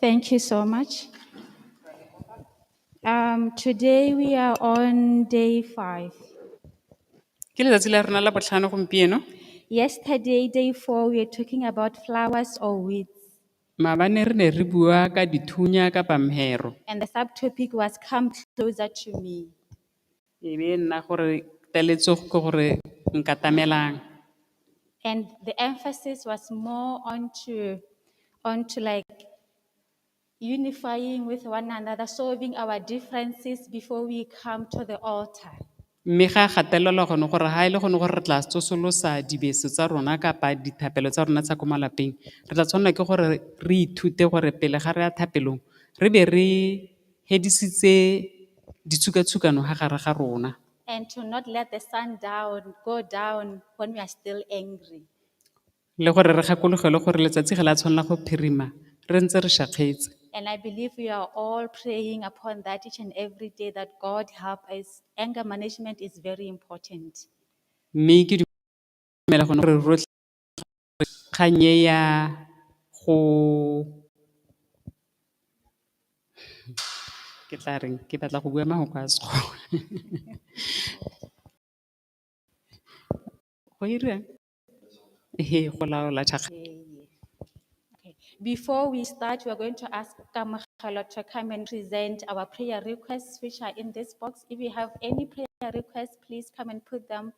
Thank you so much. Um, today we are on day five. Ke letsatsi la rona la botlhano gompieno. Yesterday, day four, we were talking about flowers or weeds, Maabane re ne re bua ka dithunya ka pamhero. and the subtopic was Come Closer to Me. E be nna gore teletsego ke gore nkatamelang. And the emphasis was more onto, onto like unifying with one another, solving our differences before we come to the altar. Mme ga gatelelwa gone gore ha e le gone gore re tla tsosolosa dibeso tsa rona kapa dithapelo tsa rona tsa ko malapeng, re tla tshwanela ke gore re ithute gore pele ga re ya thapelong, re be re hedisitse ditshukatshukano ha gare ga rona. and to not let the sun down go down when we are still angry. Le gore re gakologelwe gore letsatsi ga la tshwanela go phirima re ntse re shakgetse. And I believe we are all praying upon that each and every day that God help us. Anger management is very important. Mme ke dumela gone gore rotlhe kgang e ya go ke tla reng ke batla go bua mahoko a sekgowa go iriwang? Ehe go laola Before we start, we are going to ask Kamagelo to come and present our prayer requests, which are in this box. If you have any prayer requests, please come and put them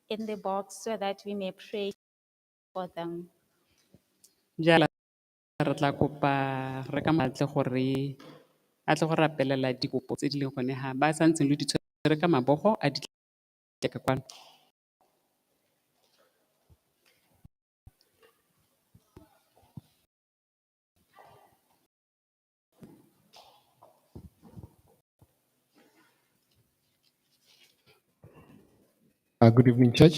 in the box so that we may pray Jaana re tla kopa re ka mo batle gore a tle go rapelela dikopo tse di leng gone ha ba sa ntseng lo di tshwere ka mabogo a di tle ka kwano. Good evening church.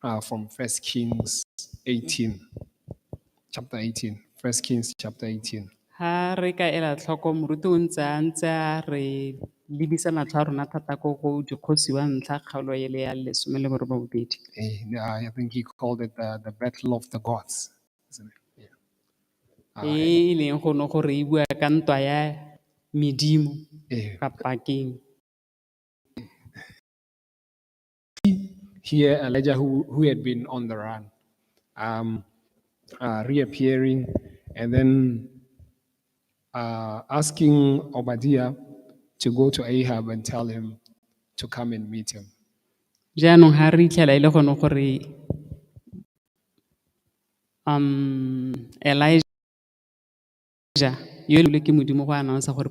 Uh, from First Kings 18, chapter 18. First Kings chapter 18. Ha re ka ela tlhoko moruti o ntse a ntse a re lebisa matlho a rona thata ko go dikgosi wa ntlha kgaolo ele ya lesome le borobong bobedi. Eh, I think he called it the, the battle of the gods. isn't it? Yeah. Ah, E e leng go ne gore e bua ka ntwa ya medimo eh, kapa keng. here Elijah, who, who had been on the run, um, uh, reappearing and then uh, asking Obadiah to go to Ahab and tell him to come and meet him. jaanong ga re itlhela e le gone gore um elijah yo e leng ke modimo go announce gore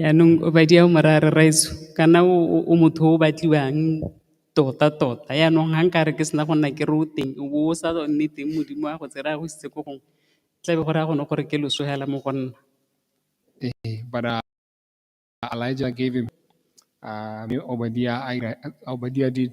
Jaanong madi ao marare rraaetsho kana o motho o batliwang tota-tota, jaanong ga nkare ke sena go nna ke re o teng o bo o sa nne teng Modimo a go tsere a go isitse ko gongwe tla be go raya gone gore ke loso fela mo go nna. But Elijah gave him Obadiah did.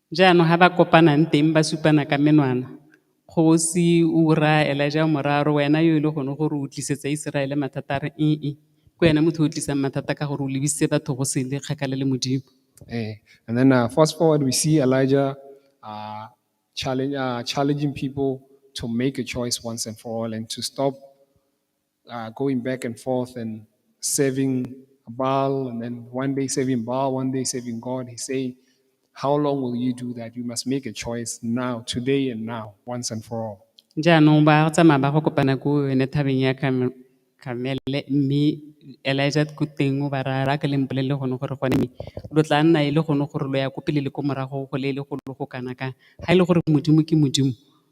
Jaanong ga ba kopanang teng ba supana ka menwana, Kgosi Ura, Elijah wa moraro, wena yo e le gone gore o tlisetsa Iseraele mathata, a re, Ee, ke wena motho o tlisang mathata ka gore o lebisitse batho go sele kgakala le Modimo. Eh, And then uh, fast forward, we see Elijah uh, challenge, uh, challenging people to make a choice once and for all and to stop uh, going back and forth and serving Baal, and then one day serving Baal, one day serving God. He's saying, How long will you do that? You must make a choice now, today and now, once and for all. jaanong ba tsamaya ba go kopana ko yone thabeng ya Kam- kamele mme elijah ko teng o ba raya ba ke leng bolelele gone gore gone mme lo tla nna e le gone gore lo ya ko pele le ko morago go le e le golo go kana kang ga e le gore modimo ke modimo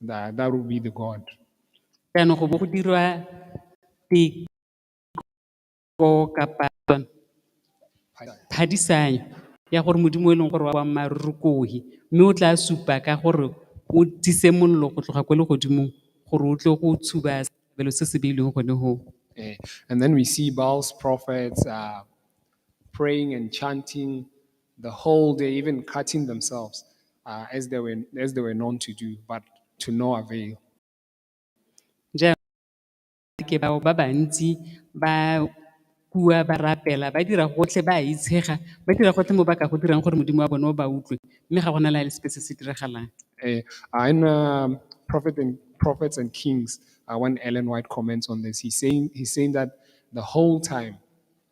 That, that will be the God. jaanong go bo go dirwa teko kapa phadisanyo ya gore modimo o e leng gore wa boammaaruri kohi mme o tla supa ka gore o tise mollo go tloga kwa legodimong gore o tle go tshuba setlhabelo se se beilweng gone goo Eh, and then we see Baal's prophets uh, praying and chanting the whole day, even cutting themselves uh, as, they were, as they were known to do, but to no avail. ke bao ba bantsi ba kua ba rapela ba dira gotlhe ba itshega ba dira gotlhe mo ba ka go dirang gore modimo wa bone o ba utlwe mme ga gona la le sepe se se diragalang eh, in um, prophet and prophets and kings uh, when ellen white comments on this he's saying, he's saying that the whole time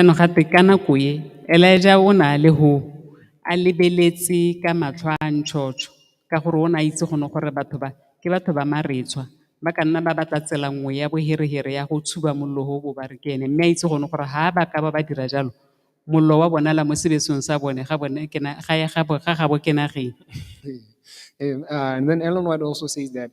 Jaanong gate ka nako e, Elaija o ne a le ho, a lebeletse ka matlho a a ntšhotšho, ka gore o ne a itse gone gore batho ba, ke batho ba maretshwa, ba ka nna ba batla tsela nngwe ya boherehere ya go tshuba mollo o o bo ba re ke ene. Mme a itse gone gore ha ba ka ba ba dira jalo, mollo wa bonala mo sebesong sa bone ga bone ke na, ga ya gabo, ga gabo ke nageng. And, uh, and then Ellen White also says that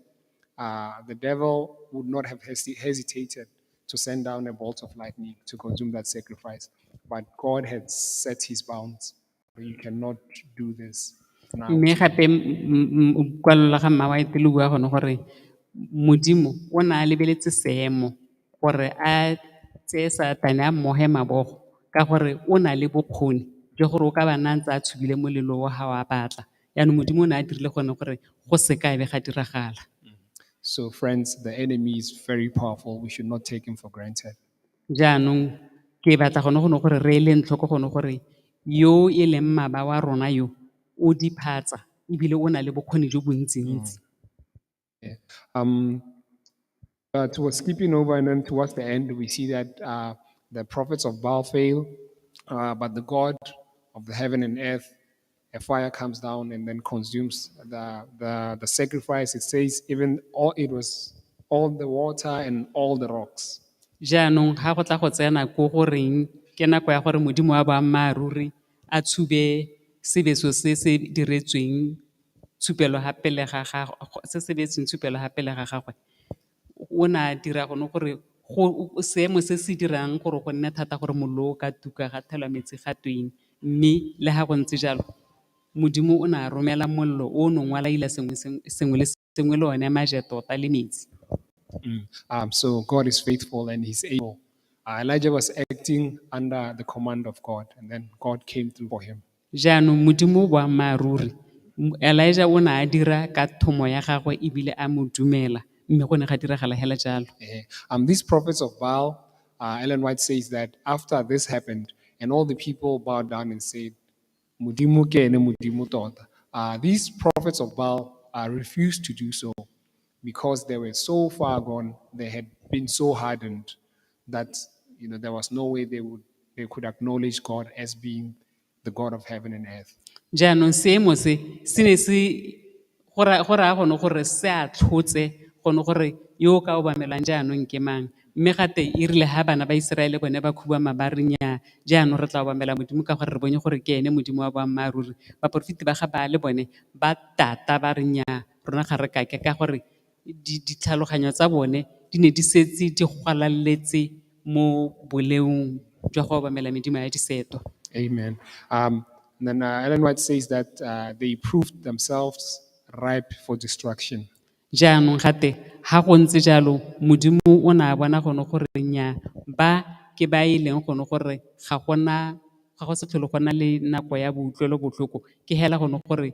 uh, the devil would not have hesi- hesitated to send down a bolt of lightning to consume that sacrifice. But God had set his bounds. You cannot do this now. mme gape kwalolo ga mma wa etele bua gone gore modimo o ne a lebeletse seemo gore a tseye satane a mmoge mabogo ka gore o na le bokgoni jo gore o ka ba na ntse a tshubile molelo o ga wa batla Yaanong Modimo o ne a dirile gone gore go se ka be ga diragala. So, friends, the enemy is very powerful. We should not take him for granted. Jaanong ke batla gone gone gore re eleng tlhoko gone gore yo e leng maba wa rona yo o diphatsa ebile o na le bokgoni jo bontsintsi. Yeah. But we're skipping over, and then towards the end, we see that uh, the prophets of Baal fail, uh, but the God of the heaven and earth, a fire comes down and then consumes the, the, the sacrifice. It says, even all it was all the water and all the rocks. jaanong ga go tla go tsena ko go reng ke nako ya gore modimo wa boammaaruri a tshube sebeso se se diretsweng tshupelo fa pele ga gagwe, se se beetsweng tshupelo fa pele ga gagwe, o ne a dira gone gore seemo se se dirang gore go nne thata gore mollo o ka tuka ga thelwa metsi ga tweng. Mme le fa go ntse jalo, Modimo o ne a romela mollo o o neng wa laila sengwe le sengwe le one maje tota le metsi. Jaanong Modimo o boammaaruri. Elijah o ne a dira ka thomo ya gagwe ebile a mo dumela, mme go ne ga diragala hela jalo. Eh, Um, these prophets of Baal, uh, Ellen White says that after this happened, and all the people bowed down and said, Modimo ke ene Modimo tota. Uh, these prophets of Baal uh, refused to do so. because they were so far gone, they had been so hardened that you know there was no way they would they could acknowledge God as being the God of heaven and earth. jaanong seemo se se ne se go ra- go raya gone gore se a tlhotse gone gore yo o ka obamelang jaanong ke mang mme gate e rile ga bana ba iseraele bone ba khubama ba re nyaa jaanong re tla obamela modimo ka gore re bone gore ke ene modimo wa boammaaruri baporofeti ba ga baale bone ba tata ba re nyaa rona ga re kake ka gore ditlhaloganyo tsa bone di ne di setse di gwalaletse mo boleong jwa go obamela medimo ya diseto. Amen. Um, and then uh, Ellen White says that uh, they proved themselves ripe for destruction. jaanong gate ga go ntse jalo modimo o ne a bona gone gore nya ba ke ba e leng gone gore ga gona ga go se tlhole gona le nako ya boutlwelo botlhoko ke hela gone gore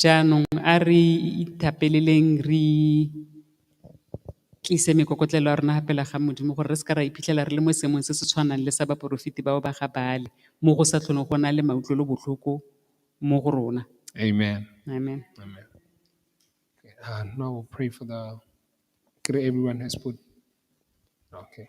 Jaanong a re ithapeleleng re tlise mekokotlelo ya rona fa pele ga Modimo gore re seke ra iphitlhela re le mo seemong se se tshwanang le sa baporofeti bao ba ga Baale, mo go sa tlholeng go na le mautlwelobotlhoko mo go rona. Amen. Amen. Amen. Okay, uh, now we'll pray for the. Could everyone has put? Okay.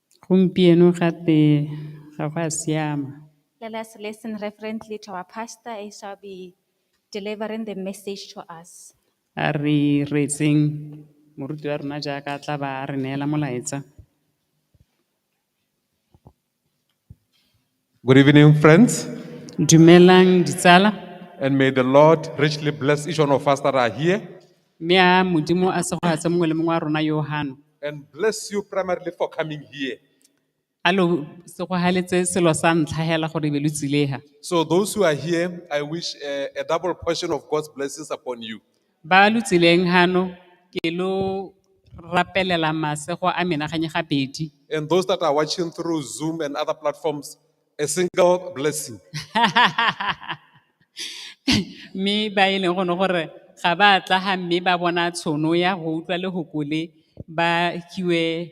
Gompieno gape ga go a siama. Let us listen reverently to our pastor as shall be delivering the message to us. A re reetseng moruti wa rona jaaka a tla ba a re neela molaetsa. Good evening, friends. Dumelang ditsala. And may the Lord richly bless each one of us that are here. Mme a Modimo a segogatse mongwe le mongwe wa rona yo gano. And bless you primarily for coming here. A lo segogaletse selo sa ntlha hela gore be lo tsile ha. So those who are here, I wish eh, a double portion of God's blessings upon you. Ba lo tseleng hano ke lo rapelela masego a menaganye gabedi. And those that are watching through Zoom and other platforms, a single blessing. Mme ba e leng gone gore ga ba tla ga mme ba bona tshono ya go utlwa lehoko le ba fiwe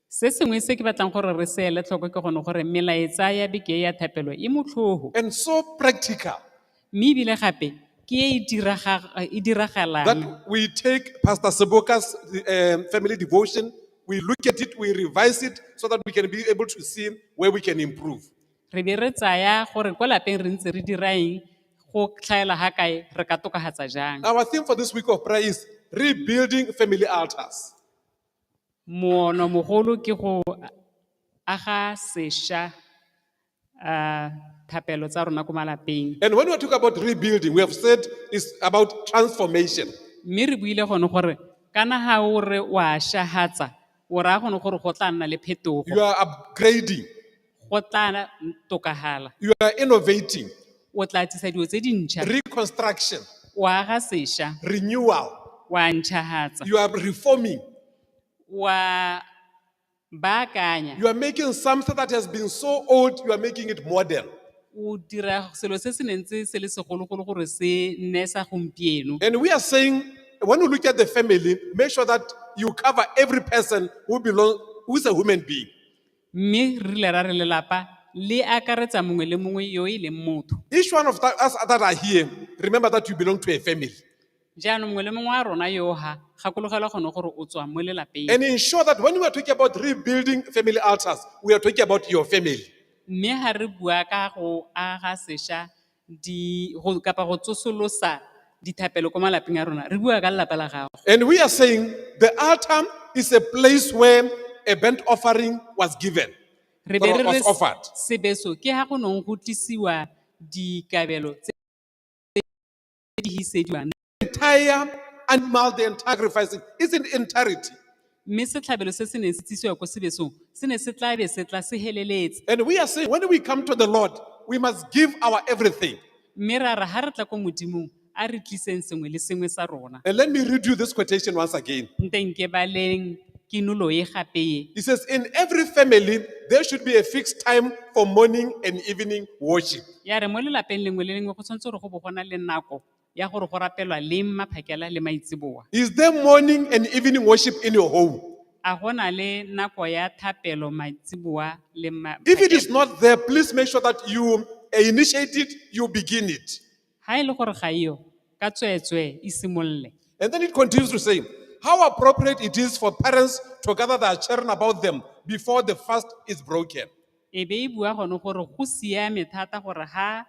Se sengwe se ke batlang gore re se ele tlhoko ke gone gore melaetsa ya beke e ya thapelo e motlhogo and so practical mme ebile gape ke e e diraga- e diragalang that we take Pastor Seboka's um, family devotion, we look at it, we revise it so that we can be able to see where we can improve. re be re tsaya gore kwa lapeng re ntse re dira eng go tlhaela ga kae re ka tokagatsa jang Our theme for this week of prayer is rebuilding family altars. Monomogolo ke go aga sesha thapelo tsa rona ko malapeng. And when we talk about rebuilding, we have said it's about transformation. Mme re buile gone gore kana ha o re wa shahatsa, o raya gone gore go tla nna le phetogo. You are upgrading. go tla tokafala. You are innovating, O tla tlisa dilo tse dintšha, reconstruction, o aga sešwa, renewal. o a ntšhagatsa, You are reforming. o a baakanya, You are making something that has been so old, you are making it modern. o dira selo se se neng tse se le segologolo gore se nne sa gompieno. And we are saying, when you look at the family, make sure that you cover every person who belongs, who is a human being. Mme re rile ra re lelapa le akaretsa mongwe le mongwe yo e leng motho. Each one of tha- us that are here, remember that you belong to a family. Jaanong mongwe le mongwe wa rona yo ha gakologelwa gone gore o tswa mo lelapeng. And ensure that when we are talking about rebuilding family altars, we are talking about your family. Mme ha re bua ka go aga sesha di, go, kapa go tsosolosa dithapelo ko malapeng a rona re bua ka lelapa la gago And we are saying the altar is a place where a burnt offering was given, re be or re was re offered. sebeso ke ha go neng go tlisiwa dikabelo tse tse di hisediwang entire animal they sacrifice it is in entirety. mme setlhabelo se se neng se tsisiwa ko sebesong se ne se tlabe se tla se heleletse And we are saying when we come to the Lord, we must give our everything. mme ra ra ga re tla ko modimong a re tliseng sengwe le sengwe sa rona And let me read you this quotation once again. nteng ke baleng kinolo e gape e He says, In every family, there should be a fixed time for morning and evening worship. ya re mo lelapeng lengwe le lengwe go tshwanetse gore go bo gona le nako ya gore go rapelwa leng maphakela le maitseboa. Is there morning and evening worship in your home? A go na le nako ya thapelo maitseboa le ma- If it is maphakela? not there, please make sure that you uh, initiate it, you begin it. Ha e le gore ga iyo, ka tsweetswee e simolole. And then it continues to say, how appropriate it is for parents to gather their children about them before the fast is broken. E be e bua gone gore go siame thata gore ha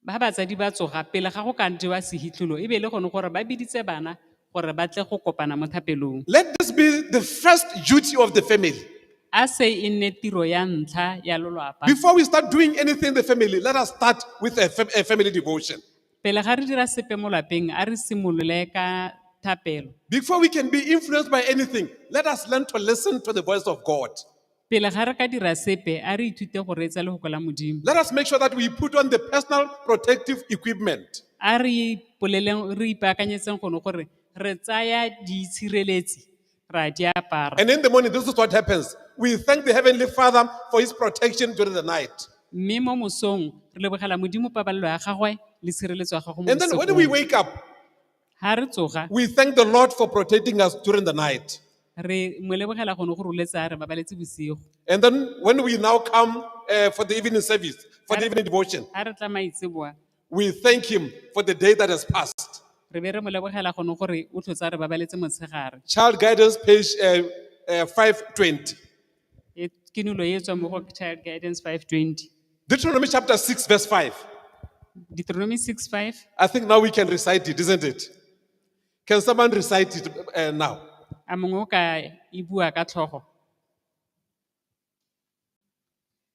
Ba batsadi ba tsoga pele ga go ka jewa sehitlholo e be e le gone gore ba biditse bana gore ba tle go kopana mo thapelong. Let this be the first duty of the family. A se e nne tiro ya ntlha ya lolwapa. Before we start doing anything in the family, let us start with a, fam- a family devotion. Pele ga re dira sepe mo lapeng, a re simolole ka thapelo. Before we can be influenced by anything, let us learn to listen to the voice of God. Pele ga re ka dira sepe, a re ithute go reetsa lefoko la Modimo. Let us make sure that we put on the personal protective equipment. A re ipoleleng, re ipaakanyetseng gone gore re tsaya diitshireletsi ra di apara. And in the morning, this is what happens. We thank the Heavenly Father for His protection during the night. Mme mo mosong re lebogela Modimo pabalelo ya gagwe le tshireletso ya gagwe mo And then when we bosigo. wake up, Ha re tsoga, we thank the Lord for protecting us during the night. re mo lebogela gone go roletsa re babaletse bosigo. And then when we now come uh, for the evening service, for the evening devotion, Ha re tla maitseboa, we thank Him for the day that has passed. re be re mo lebogela gone gore o tlhotsa re babaletse motshegare. Child Guidance, page uh, uh, 520. E- ke nulo e e tswang mo go child guidance 520 Deuteronomy chapter 6, verse 5. deuteronomy 6 5 I think now we can recite it, isn't it? Can someone recite it uh, now? a mongwe o ka e bua ka tlhogo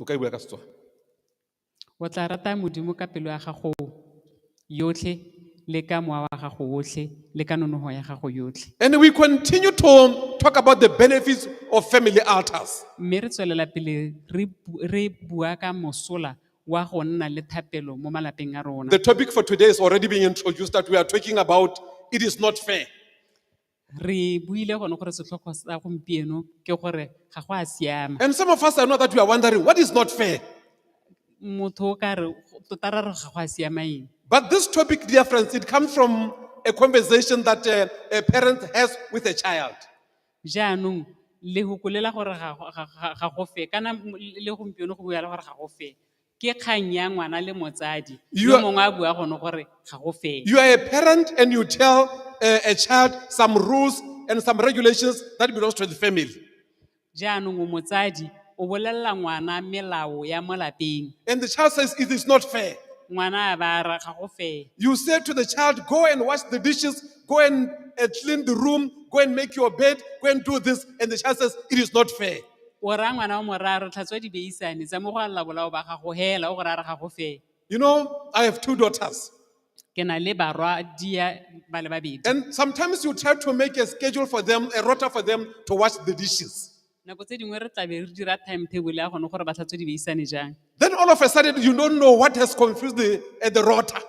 o ka e bula ka Setswana. O tla rata Modimo ka pelo ya gago yotlhe le ka mowa wa gago otlhe le ka nonogo ya gago yotlhe And we continue to talk about the benefits of family altars. mme re tswelela pele re bu- re bua ka mosola wa go nna le thapelo mo malapeng a rona The topic for today is already being introduced that we are talking about it is not fair. Re buile gone gore setlhogo sa gompieno ke gore ga go a siama. And some of us are not that we are wondering what is not fair. Motho o ka re tota ra re ga go a siama eng. But this topic, dear friends, it comes from a conversation that uh, a parent has with a child. Jaanong le gokolela gore ga go- ga- ga- ga go fe kana m- le gompieno go bua le gore ga go fe. ke kgang ya ngwana le motsadi You yo are- mongwe a bua gone gore ga go fele You are a parent and you tell a, a child some rules and some regulations that belongs to the family. jaanong o motsadi o bolelela ngwana melao ya mo lapeng And the child says, it is not fair. ngwana a ba ra ga go fele You say to the child, go and wash the dishes, go and uh, clean the room, go and make your bed, go and do this. And the child says, it is not fair. O raya ngwana wa morara re tlhatswa dibeisane tsa mo go a lla bolao ba gago hela o go raya re ga go fee. You know, I have two daughters. Ke na le barwadia ba le babedi. And sometimes you try to make a schedule for them, a rota for them to wash the dishes. Nako tse dingwe re tlabe re dira timetable ya gone gore ba tlhatswe dibeisane jang. Then all of a sudden, you don't know what has confused the, uh, the rota.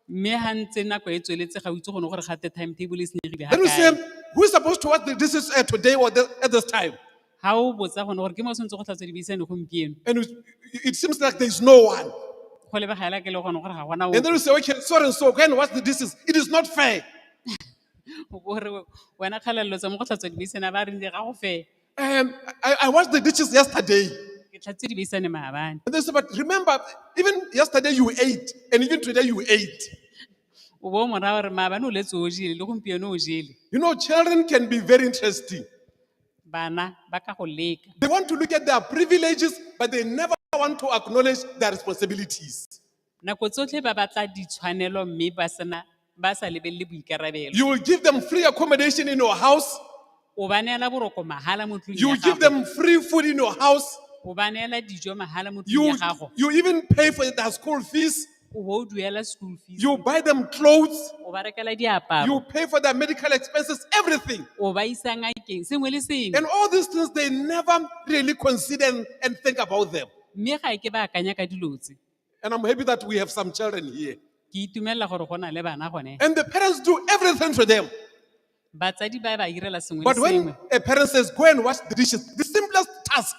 Mme ha ntse nako e tsweletse ga o itse gone gore ga te timetable e senyegile ha Then you say, kae. who is supposed to watch the- this is uh, today or the, at this time? Ha o botsa gone gore ke mo o tshwanetse go tlhatswa dibeisane gompieno. And you, it seems like there's no one. Go lebega hela ke le gone gore ga gona And then ope. you say, okay, so and so, go and watch the dishes. It is not fair. O bo re wena kgalalelo tsa mo go tlhatswa dibeisane a ba re ndi ga go fela. Um, I, I washed the dishes yesterday. ke tlhatse di beisane maabane And they said, but remember, even yesterday you ate, and even today you ate. o bo mora gore maabane o letse o jele le gompieno o jele You know, children can be very interesting. bana ba ka go leka They want to look at their privileges, but they never want to acknowledge their responsibilities. Nako tsotlhe ba batla ditshwanelo mme ba sena ba sa lebelele boikarabelo. You will give them free accommodation in your house. O ba neela boroko mahala mo tlung You ya will give gago. them free food in your house. O ba neela dijo mahala mo tlung You, ya gago. you even pay for their school fees. O bo o duela school fees. You buy them clothes. O ba rekela You diaparo. pay for their medical expenses, everything. O ba isa ngakeng sengwe le sengwe. And all these things, they never really consider and- and think about them. Mme ga ke ba akanya ka dilo tse. And I'm happy that we have some children here. ke itumelela gore go na le bana gone And the parents do everything for them. batsadi ba ba irela sengwe le But when sengwe a parent says, go and wash the dishes, the simplest task,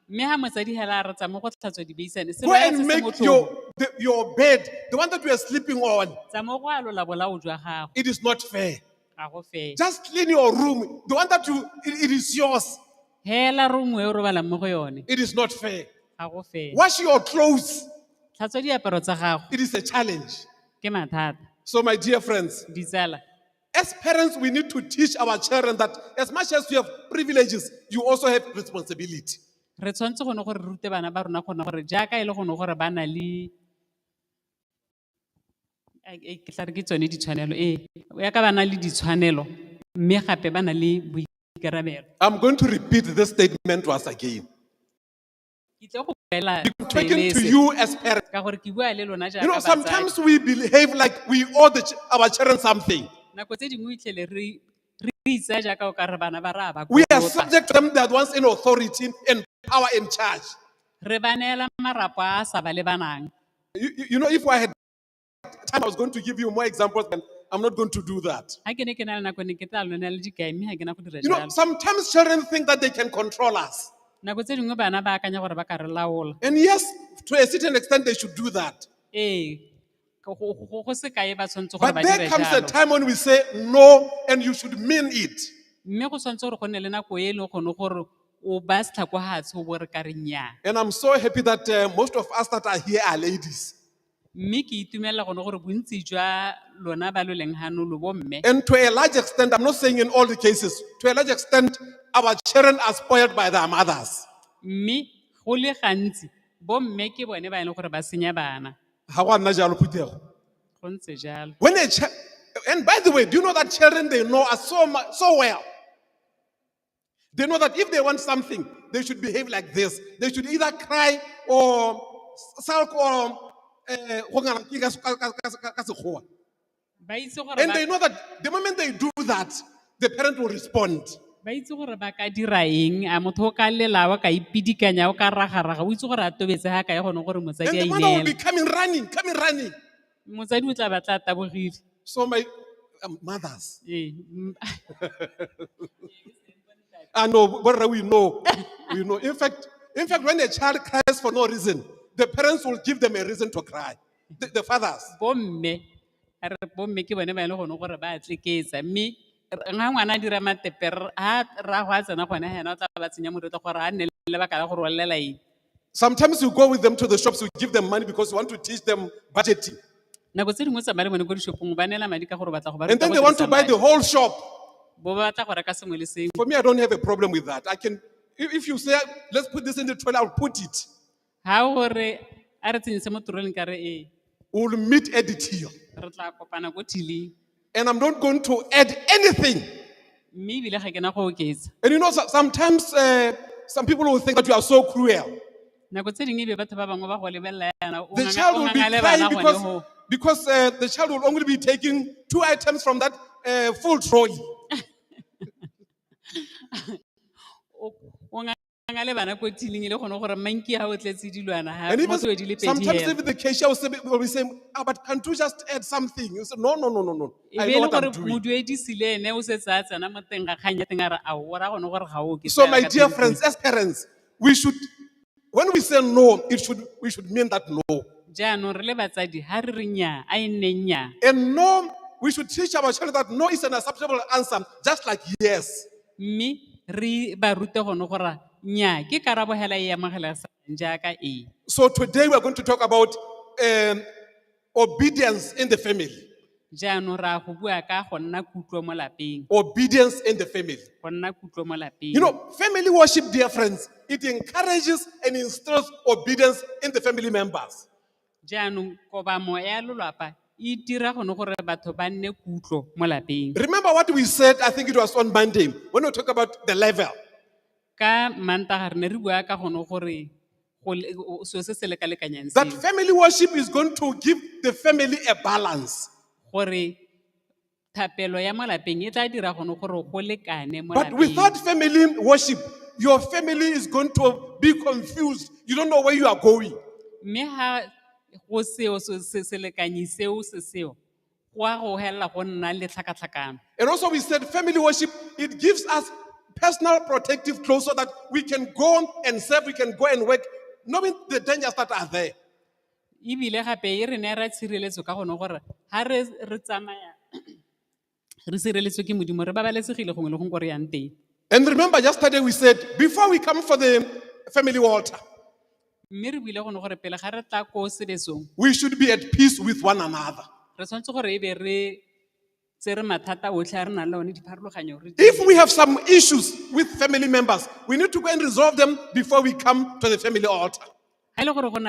mme ga motsadi hela a retsa mo go tlhatswa dibeisane go sengwe and se se make motlhofo. your, the, your bed, the one that you are sleeping on, Tsa mo go alola bolao jwa gago it is not fair. ga go fele Just clean your room. The one that you, it- it is yours. fela rongwe e o robalang mo go yone It is not fair. ga go fele Wash your clothes. tlhatswa diaparo tsa gago It is a challenge. ke mathata So, my dear friends, ditsala as parents, we need to teach our children that as much as you have privileges, you also have responsibility. re tshwanetse gone gore re rute bana ba rona gone gore jaaka e le gone gore ba na le ke tla re ke tsone ditshwanelo ee ya ka ba na le ditshwanelo mme gape ba na le boikarabelo I'm going to repeat this statement once again. ke tle go boela Taken to pele you as parents. ka gore ke bua le lona You know, jaaka sometimes batsadi we behave like we owe the, ch- our children something. nako tse dingwe o itlhele re re itsa jaaka o ka re bana ba ra ba We are kolota. subject to them that once in authority and power in charge. re ba neela marapo a a sa ba lebanang You, you, you know, if I had time, I was going to give you more examples, but I'm not going to do that. ga ke ne ke na le nako ne ke tla lona le dikai mme ga ke na go dira You know, jalo sometimes children think that they can control us. nako tse dingwe bana ba akanya gore ba ka re laola And yes, to a certain extent, they should do that. ee go- go go- go se kae ba tshwanetse gore But ba there dire comes a jalo time when we say no, and you should mean it. mme go tshwanetse gore go nne le nako e e leng gone gore O baya setlhako hatsho o bo re ka re nnyaa. And I'm so happy that uh, most of us that are here are ladies. Mme ke itumelela gone gore bontsi jwa lona ba lo leng gano lo bomme. And to a large extent, I'm not saying in all the cases, to a large extent, our children are spoiled by their mothers. Mme go le gantsi bomme ke bone ba e leng gore ba senya bana. Ha gwa nna jalo, Phuthego. Go ntse jalo. When a chi- and by the way, do you know that children they know us so mu- so well? They know that if they want something, they should behave like this. They should either cry or sulk or eh, go ngara ke ka se- ka- ka- ka- ka- ka Sekgowa. ba itse gore And ba- they know that the moment they do that, the parent will respond. ba itse gore ba ka dira eng a motho o ka lela wa ka ipidikanya o ka ragaraga o itse gore a tobetse ga kae gone gore And motsadi a the mother will be ineela coming running, coming running. Motsadi o tla ba tla taboriri. So my um, mothers. Ee, m- I know, Borra, we know. we know. In fact, in fact, when a child cries for no reason, the parents will give them a reason to cry. The, the fathers. bomme a re bomme ke bone ba e le gone gore ba tseketsa mme r- ga ngwana a dira matepe r- ha ra go a tsena gone ga ena o tla ba tsenya moretlo gore a nne le lebaka la go rolelela eng Sometimes you go with them to the shops, you give them money because you want to teach them budgeting. nako tse dingwe tsamaya le bone ko dishopong ba neela madi ka gore o batla go ba And ruta then go they want to dirisa buy madi. the whole shop. bo ba batla go reka sengwe le sengwe For me, I don't have a problem with that. I can, if if you say, let's put this in the trolley, I'll put it. ga o gore a re tsenyise mo toroleng ka re ee We'll meet at the till. re tla kopana ko thiling And I'm not going to add anything. mme ebile ga ke na go oketsa And you know, so- sometimes uh, some people will think that you are so cruel. nako tse dingwe ebe batho ba bangwe ba go lebelela yana o The nganga- child o will be ngangale bana crying gone because, go because uh, the child will only be taking two items from that uh, full trolley. o- o nganga- Bana le bana ko tining e le gone gore manki ha o tletse dilwana ha And even motho di le pedi sometimes hela. even the cashier will, say, will be saying, ah, but can't you just add something? You say, no, no, no, no, no. E I be e know le what I'm gore doing. moduedisi le ene o setse a tsena mo teng ga kgang ya teng a re ao o ra gone gore ga o ke So fela my ka dear teng. friends, as parents, we should, when we say no, it should, we should mean that no. jaanong re le batsadi ha re re nnyaa a e nne nnyaa And no, we should teach our children that no is an acceptable answer, just like yes. Mme re ba rute gone gore nnyaa ke karabo hela e e amogelesegang jaaka ee. So today we are going to talk about um, obedience in the family. Jaanong ra go bua ka go nna kutlo mo lapeng, Obedience in the family. go nna kutlo mo lapeng. You know, family worship, dear friends, it encourages and instills obedience in the family members. Jaanong, kobamo ya lolwapa e dira gone gore batho ba nne kutlo mo lapeng. Remember what we said, I think it was on Monday, when we talk about the level. Ka Mantaga re ne re bua ka gone gore go le- o- o- selo se se lekalekanyang That seo, family worship is going to give the family a balance. gore Thapelo ya mo lapeng e tla dira gone gore go lekane mo But lapeng. without family worship, your family is going to be confused. You don't know where you are going. Mme ha go seo se se selekanyi seo se seo go a go helela go nna le tlhakatlhakano. And also, we said family worship, it gives us personal protective clothes so that we can go and serve, we can go and work, knowing the dangers that are there. Ebile gape e re neela tshireletso ka gone gore ga re tsamaya re sireletswe ke modimo re babalesegile gongwe le gongwe ko re yang teng And remember, yesterday we said, before we come for the family altar, mme re buile gone gore pele ga re tla ko sebesong we should be at peace with one another. re tshwanetse gore e be re tsere mathata otlhe a re nang le one dipharologanyo re If we have some issues with family members, we need to go and resolve them before we come to the family altar. ga e le gore go na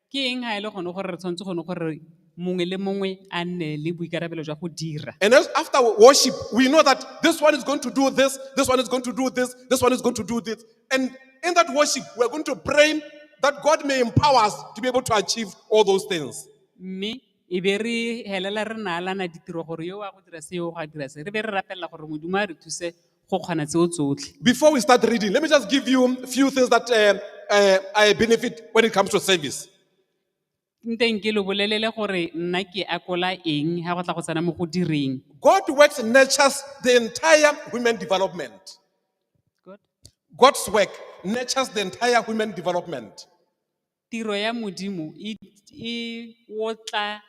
Ke eng ha e le gone gore re tshwanetse gone gore mongwe le mongwe a nne le boikarabelo jwa go dira? And as after wo- worship, we know that this one is going to do this, this one is going to do this, this one is going to do this. And in that worship, we're going to pray that God may empower us to be able to achieve all those things. Mme e be re helela re naalana ditiro gore yo wa go dira se yo wa go dira se. Re be re rapelela gore Modimo a re thuse go kgona tseo tsotlhe Before we start reading, let me just give you a few things that uh, uh, I benefit when it comes to service. nteng ke lo bolelele gore nna ke akola eng ga go tla go tsena mo go direng God works nurtures the entire human development. God's work nurtures the entire human development. Tiro ya Modimo e otla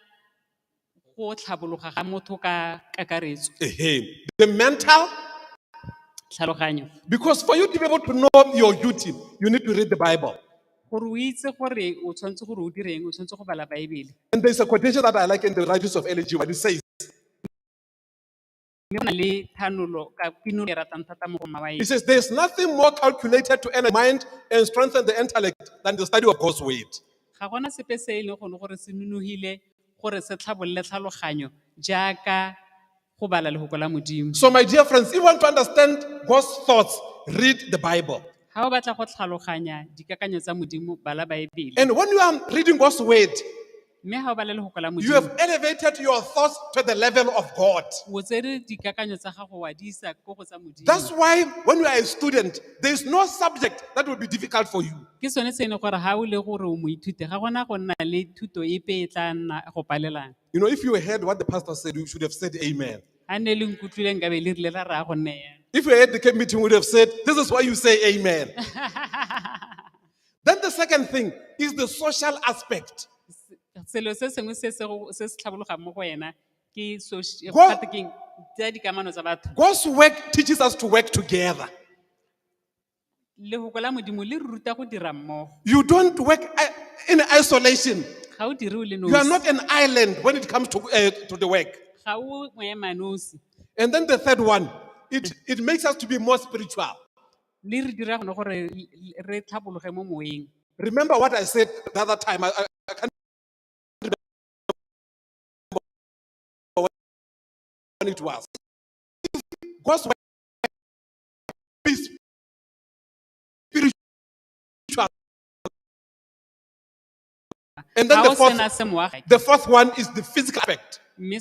go tlhabologa ga motho ka kakaretso. Ahem. The mental, Tlhaloganyo. because for you to be able to know your duty, you need to read the Bible. Gore o itse gore o tshwanetse gore o direng, o tshwanetse go bala Baebele. And there's a quotation that I like in the writings of L.G. White. It says, Mme go na le thanolo ka pinolo e ratang thata mo go mma wa He ena. says, There's nothing more calculated to earn a mind and strengthen the intellect than the study of God's word. Ga gona sepe se e leng gone gore se nonogile gore se tlhabolole tlhaloganyo jaaka go bala lefoko la Modimo. So, my dear friends, if you want to understand God's thoughts, read the Bible. Ga o batla go tlhaloganya dikakanyo tsa Modimo, bala Baebele. And when you are reading God's word, mme ga o ba le lefoko la You have elevated your thoughts to the level of God. o tsere dikakanyo tsa gago wa di isa ko go tsa modimo That's why when you are a student, there is no subject that will be difficult for you. ke sone se e leng gore ga o le gore o moithuti ga gona go nna le thuto epe e tla nna go palelana You know, if you heard what the pastor said, you should have said amen. ga ne le nkutlwileng ka be le rile la raya go nne yana If you had the camp meeting, you would have said, This is why you say amen. Then the second thing is the social aspect. selo se sengwe se se go- se se tlhabologang mo go wena ke soci- eh, Go- gate keng, tsa dikamano tsa batho God's work teaches us to work together. lefoko la modimo le re ruta go dira mmogo You don't work i- in isolation. ga o dire o le You are nosi not an island when it comes to, uh, to the work. ga o moema nosi And then the third one, it, it makes us to be more spiritual. Mme re dira gone gore re tlhabologe mo moeng. Remember what I said the other time. I, I, I can't remember when it was. God's word is spiritual. And then Ga the o fourth, sena se moagi. the fourth one is the physical aspect. Mme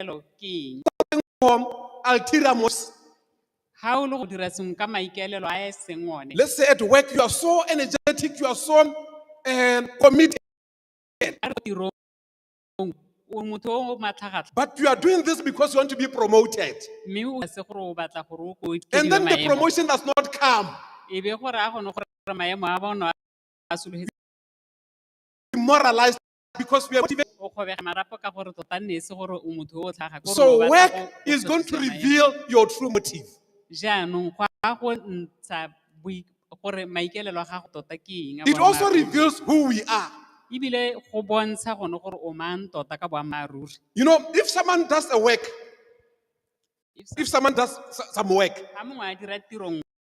Elo ke eng? Form ulterior motives. Ha o le go dira sengwe ka maikaelelo a e seng one, Let's say at work you are so energetic, you are so um, committed, a re tirong o motho o matlhagatlha but you are doing this because you want to be promoted. mme o se gore o batla gore o ko And then the maemo promotion does not come. e be gore a gone gore maemo a bona a sologetse Demoralized because we are motivated. o kgobega marapo ka gore tota nne e se gore o motho o o tlhaga ko So gore o batla work go- go is going to fetisa maemo. reveal your true motive. jaanong go a go ntsha boi- gore maikaelelo a gago tota ke eng a It also boammaaruri. reveals who we are. ebile go bontsha gone gore o mang tota ka boammaaruri You know, if someone does a work, If if someone does s- some work, ga mongwe a dira tirong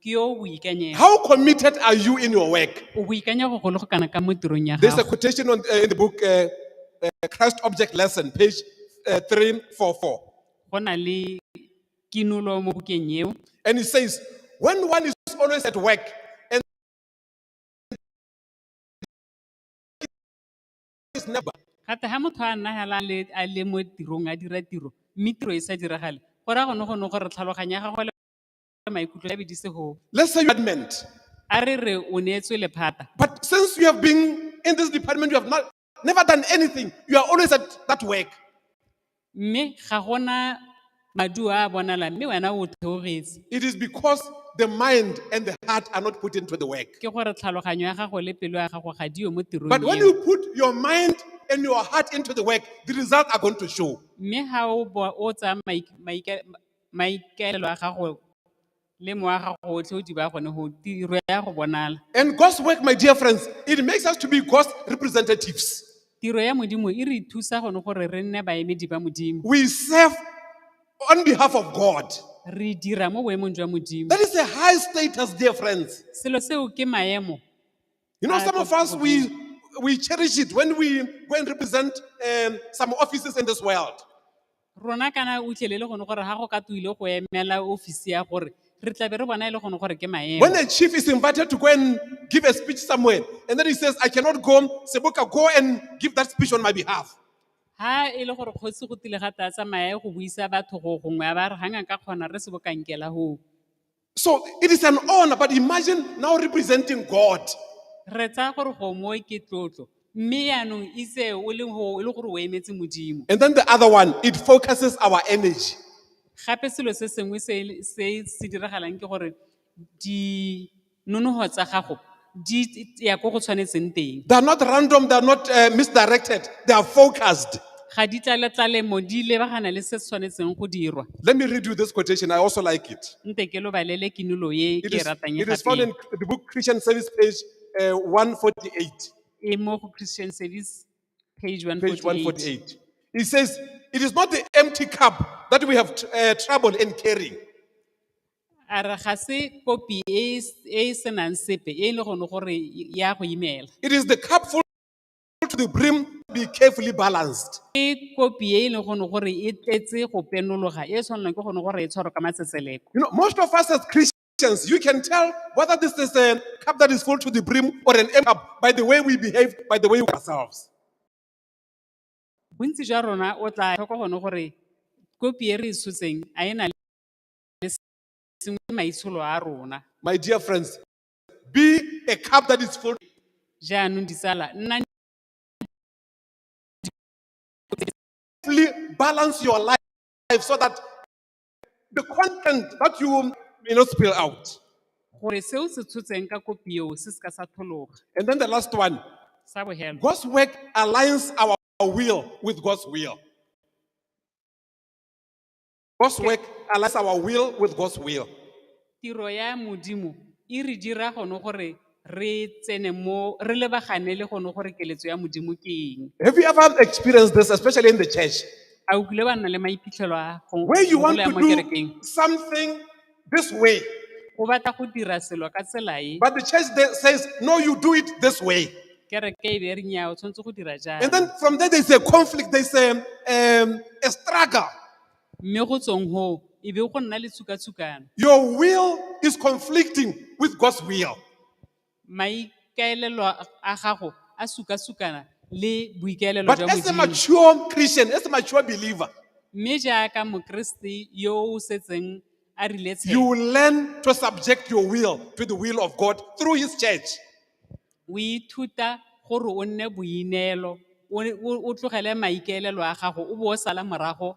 ke yo o boikanyego How committed are you in your work? o boikanya go golo go kana ka mo tirong ya There's a gago quotation on, uh, in the book, uh, uh, Christ Object Lesson, page uh, 344. go na le kinulo mo bukeng eo And it says, when one is always at work and is never, gate ga motho a nna hela a le- a le mo tirong a dira tiro mme tiro e sa diragale go raya gone gone gore tlhaloganya ya gagwe le maikutlo ya bedise go Let's say you had meant. a re re o neetswe lephata But since you have been in this department, you have not never done anything. You are always at that work. mme ga gona maduo a a bonalang mme wena o theogetse It is because the mind and the heart are not put into the work. ke gore tlhaloganyo ya gago le pelo ya gago ga diyo mo tirong But when eo. you put your mind and your heart into the work, the results are going to show. mme ga o bo- o tsaya maik- maika- maikaelelo a gago le mowa wa gago otlhe o di ba gone go tiro ya go bonala And God's work, my dear friends, it makes us to be God's representatives. tiro ya modimo e re thusa gone gore re nne baemedi ba modimo We serve on behalf of God. re dira mo boemong jwa modimo That is a high status, dear friends. selo seo ke maemo You know, Ah, some of God, us, God, we, we cherish it when we go and represent um, some offices in this world. Rona kana o utlwele le gone gore ga go ka tuile go emela ofisi ya gore re tlabe re bona e le gone gore ke maemo. When a chief is invited to go and give a speech somewhere, and then he says, I cannot go, Seboka, go and give that speech on my behalf. Ha e le gore kgosi go tile ga tsa tsamaya go buisa batho go gongwe a ba re hanga ka kgona re se bokankela ho. So it is an honor, but imagine now representing God. re tsaya gore gongwe ke tlotlo mme yaanong itse o le go- e le gore o emetse modimo And then the other one, it focuses our energy. gape selo se sengwe se e le- se se diragalang ke gore dinonogo tsa gago di ya ko go tshwanetseng teng They are not random, they are not uh, misdirected, they are focused. ga di tlale tlalemo di lebagana le se se tshwanetseng go dirwa Let me read you this quotation, I also like it. nte ke lo balele kinulo ye It ke e is, ratang e it is found in gape the book Christian Service, page uh, 148. e mo go christian service page Page 148 148. It says, It is not the empty cup that we have uh, trouble in carrying. A re ga se kopi e e s- e e senang sepe e e le gone gore ya go imela. It is the cup full to the brim, be carefully balanced. Ke kopi e e leng gone gore e tletse go penologa e e tshwanelang ke gone gore e tshwarwe ka matsetseleko. You know, most of us as Christians, you can tell whether this is a cup that is full to the brim or an empty cup by the way we behave, by the way we ourselves. Bontsi jwa rona o tla tlhoka gone gore kopi e re e tshotseng a e na le le sengwe maitsholo a rona. My dear friends, be a cup that is full. Jaanong ditsala, nnang Carefully balance your life so that the content that you may not spill out. gore seo se tshotseng ka kopi eo se se ka sa thologa. And then the last one, Sa bohelo. God's work aligns our will with God's will. God's Okay. work aligns our will with God's will. tiro ya modimo e re dira gone gore re tsene mo re lebagane le gone gore keletso ya modimo ke eng Have you ever experienced this, especially in the church, a o kile ba nna le maiphitlhelo a go where you want gola ya to mo kerekeng do something this way, o batla go dira selo ka tsela e but the church there says, no, you do it this way. kereke e be re nyaa o tshwanetse go dira jang And then from there, there's a conflict, there's a, um, a struggle. mme go tsweng goo e be go nna le tshukatshukano Your will is conflicting with God's will. maikaelelo a gago a sukasukana le boikaelelo But jwa as a Modimo. mature Christian, as a mature believer, Mme jaaka Mokriste yo o setseng a rile you tshelo, will learn to subject your will to the will of God through His church. o ithuta gore o nne boineelo, o o- o tlogele maikaelelo a gago, o bo o sala morago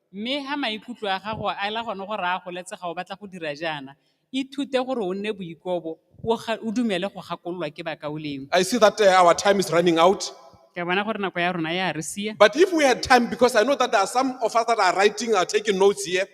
Mme ha maikutlo a gago a ela gone go raya go letsega o batla go dira jaana, ithute gore o nne boikobo, o ga- o dumele go gakololwa ke bakaulengwe. I see that uh, our time is running out. Ke a bona gore nako ya rona ya re sia. But if we had time, because I know that there are some of us that are writing, are taking notes here,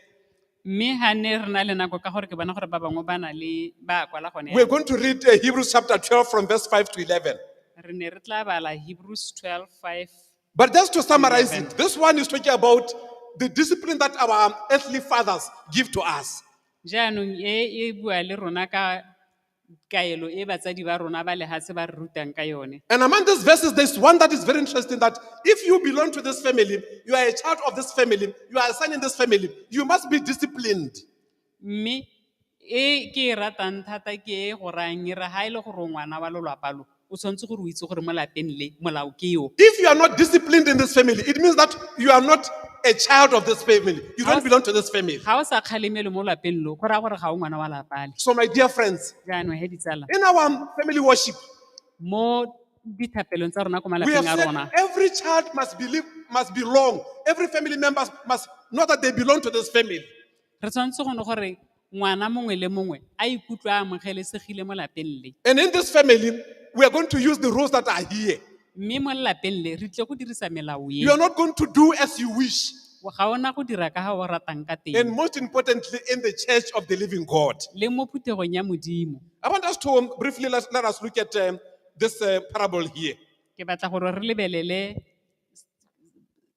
Mme ha ne re na le nako ka gore ke bona gore ba bangwe ba na le ba a kwala gone. we're going to read uh, Hebrews chapter 12 from verse 5 to 11. Re ne re tla bala Hebrews 12:5 But just to summarize it, this one is talking about the discipline that our earthly fathers give to us. jaanong e e bua le rona ka kaelo e batsadi ba rona ba lehatshe ba re rutang ka yone And among these verses, there's one that is very interesting that if you belong to this family, you are a child of this family, you are a son in this family, you must be disciplined. Mme e ke e ratang thata ke e go rayang e re ha e le gore o ngwana wa lolwapa lo, o tshwanetse gore o itse gore mo lapeng le molao ke o. If you are not disciplined in this family, it means that you are not a child of this family. You don't belong to this family. Ga o sa kgalemele mo lapeng lo, go raya gore ga o ngwana wa lapa le. So, my dear friends, Jaanong he ditsala, in our family worship, mo dithapelong tsa rona ko we have malapeng a said rona, every child must believe, must belong. Every family member must know that they belong to this family. Re tshwanetse go ne gore ngwana mongwe le mongwe a ikutlwe a amogelesegile mo lapeng le. And in this family, we are going to use the rules that are here. Mme mo lelapeng le re tlile go dirisa melao e. You are not going to do as you wish. Ga ona go dira ka ga o ratang ka And teng most importantly, in the church of the living God. le mo phuthegong ya Modimo. I want us to um, briefly let, let us look at um, this uh, parable here. Ke batla gore re lebelele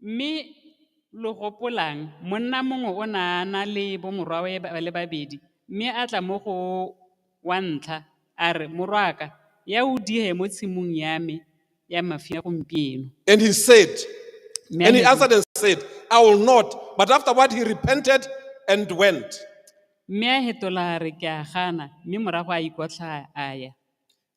Mme lo gopolang, monna mongwe o ne a na le bomorwawe ba le babedi, mme a tla mo go wa ntlha a re, Morwaka, ya o dihe mo tshimong ya me ya mafia gompieno. And he said, Mme a and he ne- answered and said, I will not. But afterward he repented and went. Mme a hetola a re, Ke a gana, mme morago a ikotlha a ya.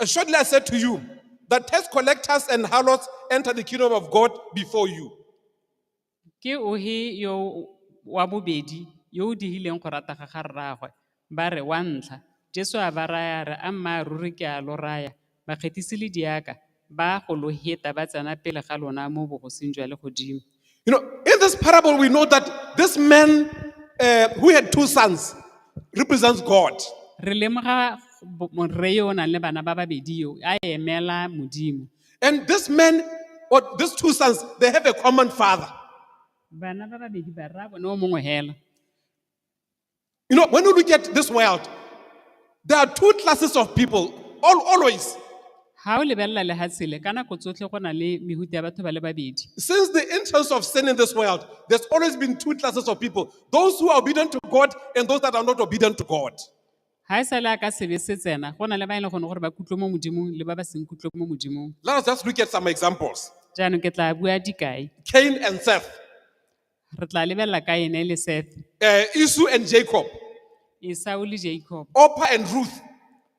Assuredly, I said to you that tax collectors and harlots enter the kingdom of God before you. ke ohe yo wa bobedi yo o digileng go rata ga ga rraagwe ba re wa ntlha jesu a ba raya re a mma ruri ke a lo raya bakgethisi le diaka ba go lo heta ba tsena pele ga lona mo bogosing jwa legodimo You know, in this parable, we know that this man uh, who had two sons represents God. re lemoga bo- morre yo o nang le bana ba babedi yo a emela modimo And this man, or these two sons, they have a common father. bana ba babedi ba rra bone o mongwe hela You know, when you look at this world, there are two classes of people, all, always. ga o lebelela lefatshe le ka nako tsotlhe go na le mehuta ya batho ba le babedi Since the entrance of sin in this world, there's always been two classes of people those who are obedient to God and those that are not obedient to God. ga e sa le a ka sebe se tsena go na le ba e leng gone gore ba kutlwe mo modimong le ba ba seng kutlwe mo modimong Let us just look at some examples jaanong ke tla bua dikai Cain and Seth. Re tla lebelela Kaene le Sethe, uh, Esau and Jacob, Esau le Jacob, Opa and Ruth.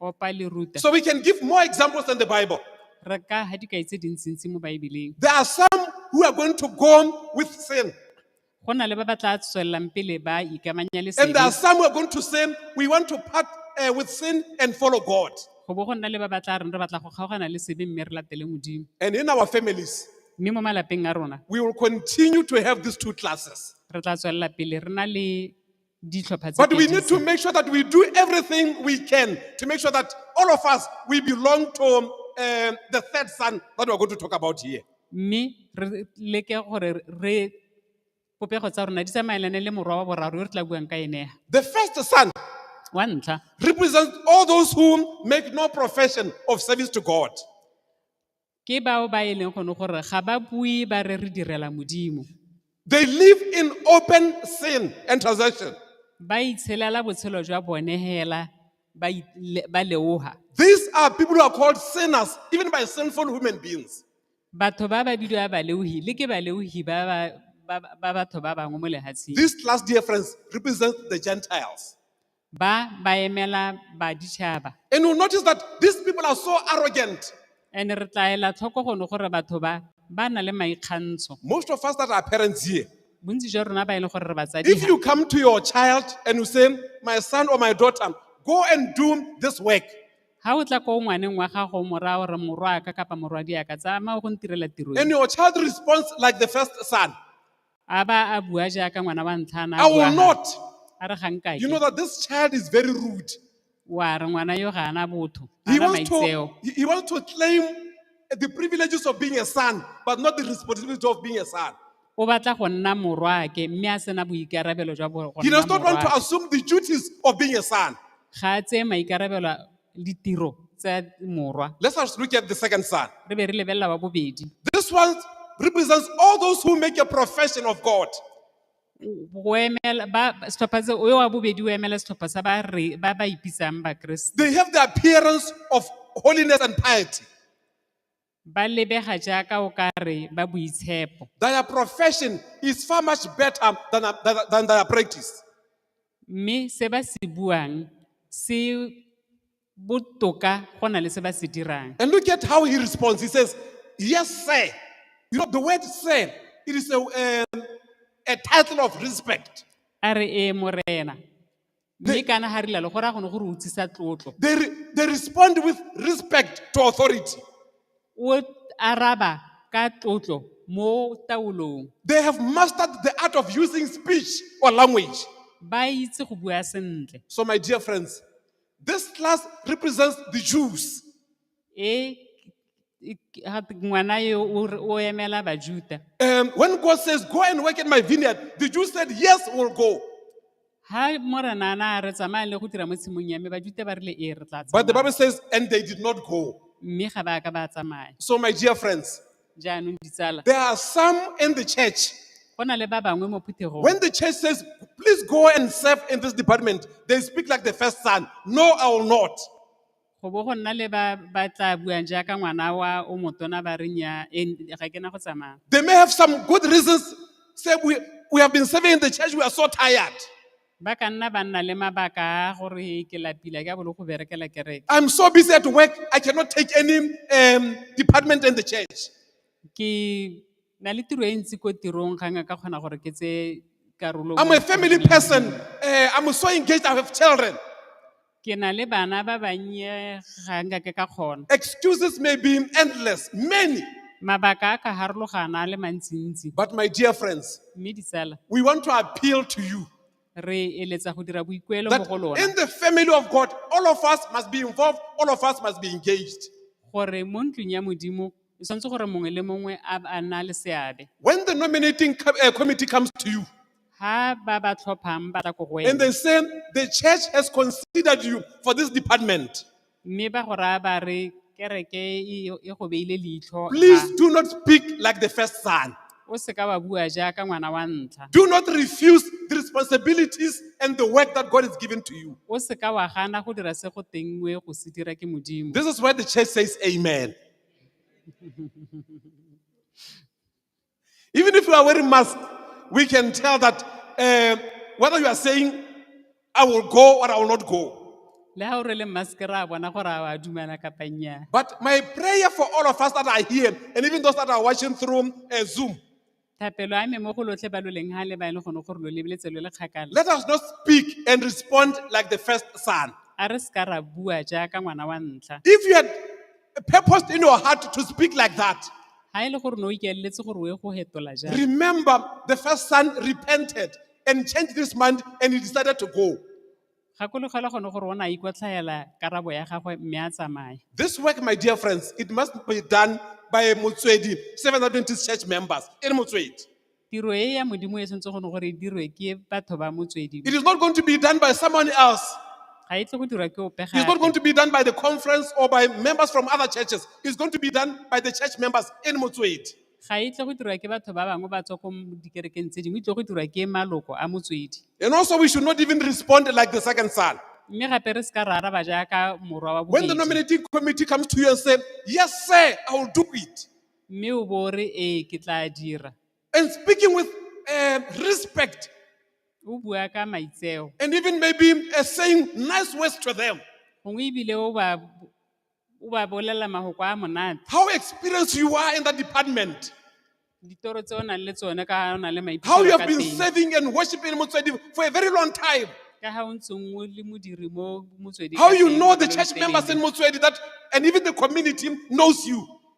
Opa le Ruta. So we can give more examples than the Bible. Re ka ha dikai tse dintsintsi mo Baebeleng. There are some who are going to go on with sin, Go na le ba ba tla tswelelang pele ba ikamanya le and there are sebe. some who are going to sin. We want to part uh, with sin and follow God. Go bo go nna le ba ba tla reng re batla go kgaogana le sebe mme re latele Modimo. And in our families, Mme mo malapeng a rona, We will continue to have these two classes. re tla tswelela pele re na le ditlhopha tse But we pedi need to tse. make sure that we do everything we can to make sure that all of us, we belong to um, the third son that we're going to talk about here. Mme re leke gore re popego tsa rona di tsamaelane le morwa wa boraro yo re tla buang ka ene. The first son Wa ntlha, represents all those who make no profession of service to God. Ke bao ba e leng gone gore ga ba bue ba re re direla Modimo. They live in open sin and transgression. Ba itshelela botshelo jwa bone hela ba i- le- ba leoga. These are people who are called sinners, even by sinful human beings. Batho ba ba bidiwa baleogi le ke baleogi ba ba- ba ba- ba batho ba bangwe mo lehatsheng. This class, dear friends, represents the Gentiles. Ba ba emela baditšhaba. And you'll notice that these people are so arrogant. And re tla ela tlhoko gono gore batho ba ba na le maikgantsho. Most of us that are parents here, Bontsi jwa rona ba e leng gore re batsadi if ha. you come to your child and you say, My son or my daughter, go and do this work, Ha o tla ko ngwaneng wa gago mora gore morwa ka kapa morwadi aka tsamaya go ntirela tiro e. and your child responds like the first son, A ba a bua jaaka ngwana wa ntlha a na I a will bua not. gape. A re ga nka You know ke. that this child is very rude. Wa re ngwana yo ga ana botho. Ga He ana wants to, maitseo. he, he wants to claim the privileges of being a son, but not the responsibility of being a son. O batla go nna morwaake mme a sena boikarabelo jwa bo- go He nna does not want to morwaake. assume the duties of being a son. Ga a tseye maikarabelo a- ditiro tsa morwa Let's first look at the second son. re be re lebelela wa bobedi This one represents all those who make a profession of God. O emela- ba- ba- setlhopha se- yo wa bobedi o emela setlhopha sa ba re- ba ba ipitsang bakeresete They have the appearance of holiness and piety. Ba lebega jaaka o ka re ba boitshepo. Their profession is far much better than, than, than their practice. Mme se ba se buang se botoka go na le se ba se dirang. And look at how he responds. He says, Yes, sir. You know, the word sir, it is a, um, a title of respect. A re ee morena. They- mme kana ga rilalo gore a gone gore o tsisa tlotlo They, re- they respond with respect to authority. o araba ka tlotlo mo taolong They have mastered the art of using speech or language. ba itse go bua sentle So, my dear friends, this class represents the Jews. E e- ha- ngwana eo o re- o emela Bajuda. Um, when God says, Go and work in my vineyard, the Jews said, Yes, we'll go. Ha morena ana a re tsamaya le go dira mo tshimong ya me Bajuda ba rile ee re tla But the tsamaya. Bible says, And they did not go. Mme ga ba ka ba tsamaya. So, my dear friends, Jaanong ditsala, there are some in the church. go na le ba bangwe mo phuthegong. When the church says, Please go and serve in this department, they speak like the first son. No, I will not. Go bo go nna le ba ba tlaa buang jaaka ngwana wa o motona ba re nnyaa, e, ga ke na go tsamaya. They may have some good reasons. Say, we, we have been serving in the church, we are so tired. Ba ka nna ba nna le mabaka a gore ke lapile ka bolo go berekela kereke. I'm so busy at work, I cannot take any um, department in the church. Ke na le tiro e ntsi ko tirong ga nka ka kgona gore ke tse karolo. I'm mo a family tirong ya person, Modimo. uh, I'm so engaged, I have children. Ke na le bana ba bannye ga nka ke ka kgona. Excuses may be endless, many. Mabaka a ka harologana a le mantsintsi. But my dear friends, Mme ditsala, we want to appeal to you re eletsa go dira boikuelo mo that go lona in the family of God, all of us must be involved, all of us must be engaged. gore mo ntlong ya Modimo e tshwanetse gore mongwe le mongwe a a nna le seabe. When the nominating co- uh, committee comes to you, ha ba ba tlhophang ba tla ko go And wena they say, the church has considered you for this department. mme ba go raya ba re kereke e e go beile leitlho Please ha do not speak like the first son. o seka wa bua jaaka ngwana wa ntlha Do not refuse the responsibilities and the work that God has given to you. o seka wa gana go dira se go tengwe go se dira ke modimo This is where the church says amen. Even if you are wearing mask, we can tell that uh, whether you are saying, I will go or I will not go. le ga o rwele maske ra bona gore a wa dumela kapa nnyaa But my prayer for all of us that are here, and even those that are watching through uh, Zoom, thapelo a me mo go lotlhe ba lo leng ga le ba e leng gone gore lo lebeletse lo le kgakala let us not speak and respond like the first son. a re seka ra bua jaaka ngwana wa ntlha If you had purposed in your heart to speak like that, Ha e le gore ne o ikaeletse gore o ye go hetola jang. Remember, the first son repented and changed his mind and he decided to go. Gakologela gone gore o ne a ikotlhaela karabo ya gagwe mme a tsamaya. This work, my dear friends, it must be done by Motswedi, Seventh Adventist Church members. Ere Motswedi. Tiro e ya Modimo e tshwanetse go ne gore e dirwe ke batho ba motswedi. It is not going to be done by someone else. Ga e tle go dirwa ke ope It's not gape. going to be done by the conference or by members from other churches. It's going to be done by the church members in Motswedi. Ga e tle go dirwa ke batho ba bangwe ba tswa ko dikerekeng tse dingwe, e tle go dirwa ke maloko a motswedi. And also, we should not even respond like the second son. Mme gape re seka ra araba jaaka morwa wa When the bobedi. nominating committee comes to you and say, yes, sir, I will do it. Mme o bo o re ee ke tla dira. And speaking with uh, respect. O bua ka maitseo. And even maybe uh, saying nice words to them. Gongwe ebile o ba o ba bolelela mahoko a monate. How experienced you are in that department. Ditoro tse o nang le tsone ka o na le maiphitlhelo How you have been serving and worshiping Motswedi for a very long time. Ka ha o ntseng o le modiri mo Motswedi. How you know the church members in Motswedi that and even the community knows you.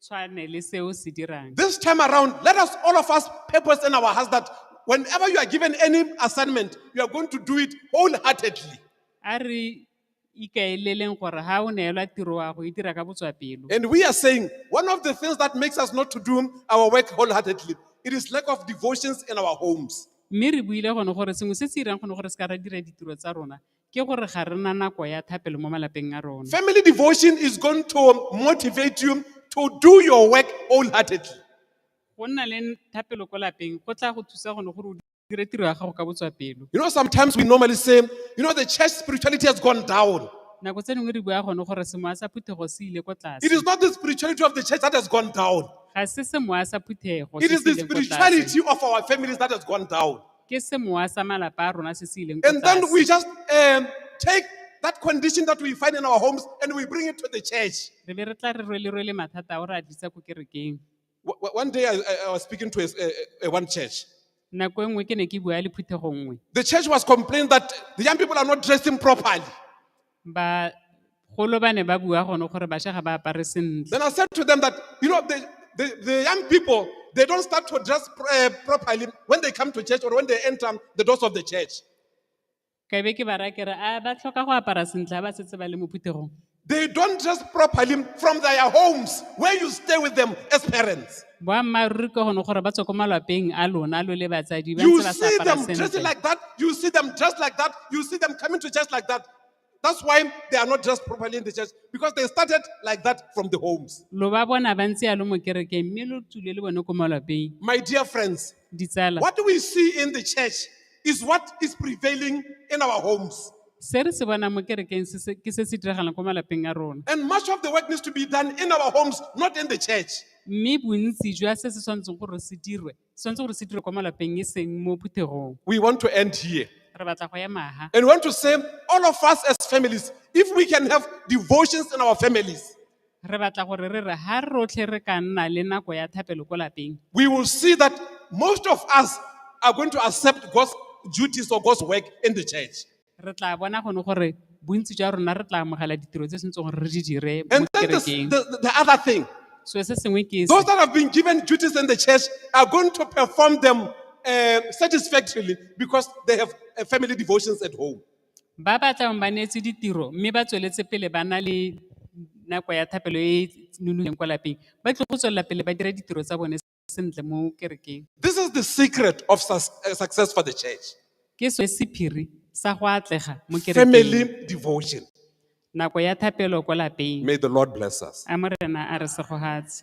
tshwane le se o se dirang. This time around, let us all of us purpose in our hearts that whenever you are given any assignment, you are going to do it wholeheartedly. A re ikaeleleng gore ha o neelwa tiro wa go e dira ka botswapelo. And we are saying one of the things that makes us not to do our work wholeheartedly, it is lack of devotions in our homes. Mme re buile gone gore sengwe se se irang gone gore se ka ra dira ditiro tsa rona Ke gore ga re na nako ya thapelo mo malapeng a rona. Family devotion is going to motivate you to do your work wholeheartedly. Go nna le thapelo ko lapeng go tla go thusa gone gore o dire tiro ya gago ka botswapelo. You know, sometimes we normally say, you know, the church spirituality has gone down. Nako tse dingwe re bua gone gore semoya sa phuthego se ile ko It tlase. is not the spirituality of the church that has gone down, Ga se semoya sa phuthego it se is se the ileng ko tlase. spirituality of our families that has gone down. Ke semowa sa malapa a rona se se ileng ko And then tlase. we just um, take that condition that we find in our homes and we bring it to the church. Re be re tla re rwele-rwele mathata ao re a tlisa ko kerekeng. W- w- one day I, I, I was speaking to a, a, a one church. Nako e nngwe ke ne ke bua le phuthego nngwe. The church was complaining that the young people are not dressing properly. Bagolo ba ne ba bua gone gore basha ga ba apare sentle. Then I said to them that, you know, the, the, the young people, they don't start to dress uh, properly when they come to church or when they enter the doors of the church. Ka be ke ba raya ke re, a ba tlhoka go apara sentle ha ba setse ba le mo phuthegong. They don't dress properly from their homes where you stay with them as parents. boammaaruri ke gone gore ba tswe ko malwapeng a lona lo le batsadi ba You ntse ba sa see apara them dressing sentle like that. You see them dressed like that. You see them coming to church like that. That's why they are not dressed properly in the church because they started like that from the homes. lo ba bona ba ntse yalo mo kerekeng mme lo tsule le bone ko malwapeng My dear friends, ditsala what we see in the church is what is prevailing in our homes. se re se bonang mo kerekeng se se- ke se se diragalang ko malapeng a rona And much of the work needs to be done in our homes, not in the church. Mme bontsi jwa se se tshwanetseng gore se dirwe, se tshwanetse gore se dirwe kwa malapeng e seng mo phuthegong. We want to end here. Re batla go ema ha. And we want to say, all of us as families, if we can have devotions in our families, Re batla gore re re ha rotlhe re ka nna le nako ya thapelo ko lapeng. we will see that most of us are going to accept God's duties or God's work in the church. Re tla bona gone gore bontsi jwa rona re tla amogela ditiro tse tshwanetseng gore re di dire mo And then the, kerekeng. the, the other thing, So se sengwe ke those that have been given duties in the church are going to perform them uh, satisfactorily because they have uh, family devotions at home. ba ba tlang ba neetswe ditiro mme ba tsweletse pele ba na le nako ya thapelo e e nonofileng kwa lapeng ba tlile go tswelela pele ba dira ditiro tsa bone sentle mo kerekeng. This is the secret of sus- uh, success for the church. Ke sone sephiri sa go atlega mo kerekeng. Family devotion. Nako ya thapelo kwa lapeng. May the Lord bless us. A Morena a re segogatse.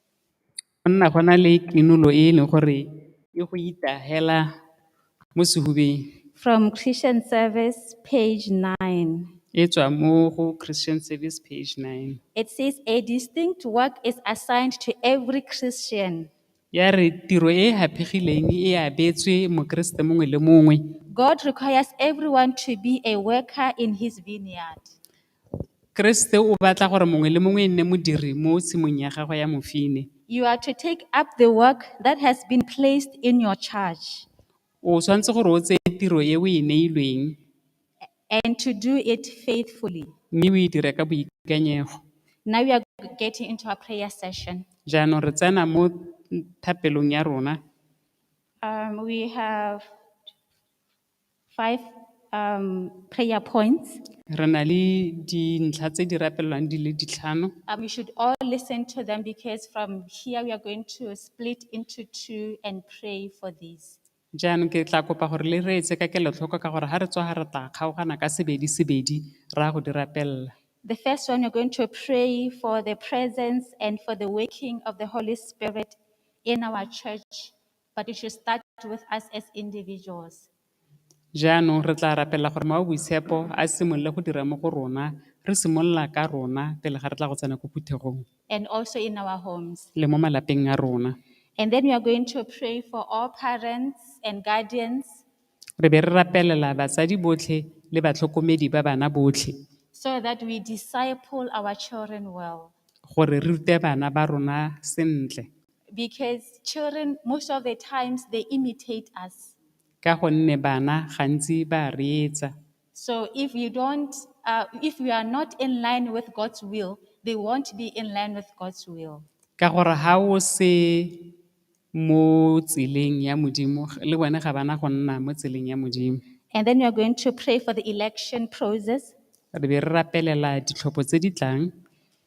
go nna go na le krinolo e e leng gore e go itagela mo sehubeng. From Christian Service, page 9. E tswa mo go Christian Service, page 9. It says, A distinct work is assigned to every Christian. Ya re tiro e e haphegileng e abetswe Mokeresete mongwe le mongwe. God requires everyone to be a worker in his vineyard. Keresete o batla gore mongwe le mongwe e nne modiri mo tshimong ya gagwe ya mofine. You are to take up the work that has been placed in your charge O tshwanetse gore o tseye tiro e o e neilweng and to do it faithfully. mme o e dire ka boikanyego. Now we are getting into our prayer session. Jaanong re tsena mo thapelong ya rona. Um, we have Five um prayer points. Re na le dintlha tse di rapelwang di le ditlhano. Um, you should all listen to them because from here we are going to split into two and pray for these. Jaanong ke tla kopa gore le re etse ka kelotlhoko ka gore ga re tswa ga re tla kgaogana ka sebedi sebedi re ya go di rapelela. The first one, we're going to pray for the presence and for the working of the Holy Spirit in our church But it should start with us as individuals. Jaanong re tla rapela gore Mawa Boitshepo a simolole go dira mo go rona, re simolola ka rona pele ga re tla go tsena ko phuthegong and also in our homes. le mo malapeng a rona. And then we are going to pray for all parents and guardians Re be re rapelela batsadi botlhe le batlhokomedi ba bana botlhe so that we disciple our children well. gore re rute bana ba rona sentle. Because children most of the times they imitate us. Ka gonne bana gantsi ba a reetsa. So if you don't, uh, if you are not in line with God's will, they won't be in line with God's will. Ka gore ha o se mo tseleng ya Modimo, le bone ga bana go nna mo tseleng ya Modimo. And then we are going to pray for the election process. Re be re rapelela ditlhopho tse di tlang.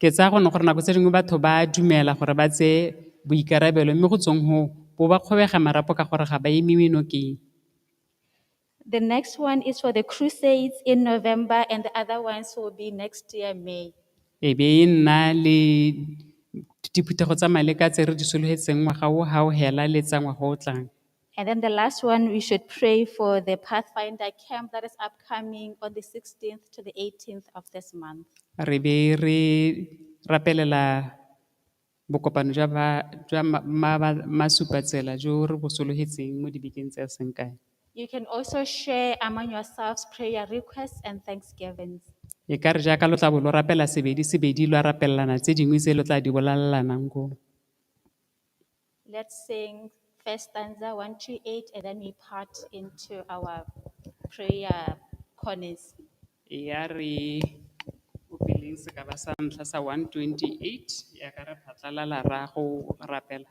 Ke tsaya gone gore nako tse dingwe batho ba a dumela gore ba tseye boikarabelo mme go tsweng hoo bo ba kgobega marapo ka gore ga ba emiwe nokeng. The next one is for the crusades in November and the other ones will be next year, May. E be e nna le diphuthego tsa maleka tse re di sologetseng ngwaga o ga o hela le tsa ngwaga o tlang. And then the last one, we should pray for the Pathfinder camp that is upcoming on the 16th to the 18th of this month. re be re rapelela bokopano jwa ba- jwa ma- ma- ba- masupatsela jo re bo sologetseng mo dibekeng tse a seng kae You can also share among yourselves prayer requests and thanksgivings. e ka re jaaka lo tla bo lo rapela sebedi sebedi lo a rapelelana tse dingwe tse lo tla di bolalelanang ko Let's sing first stanza 128 and then we part into our prayer corners. ya re opeleng sekaba sa ntlha sa 128 ya ka re phatlalala ra go rapela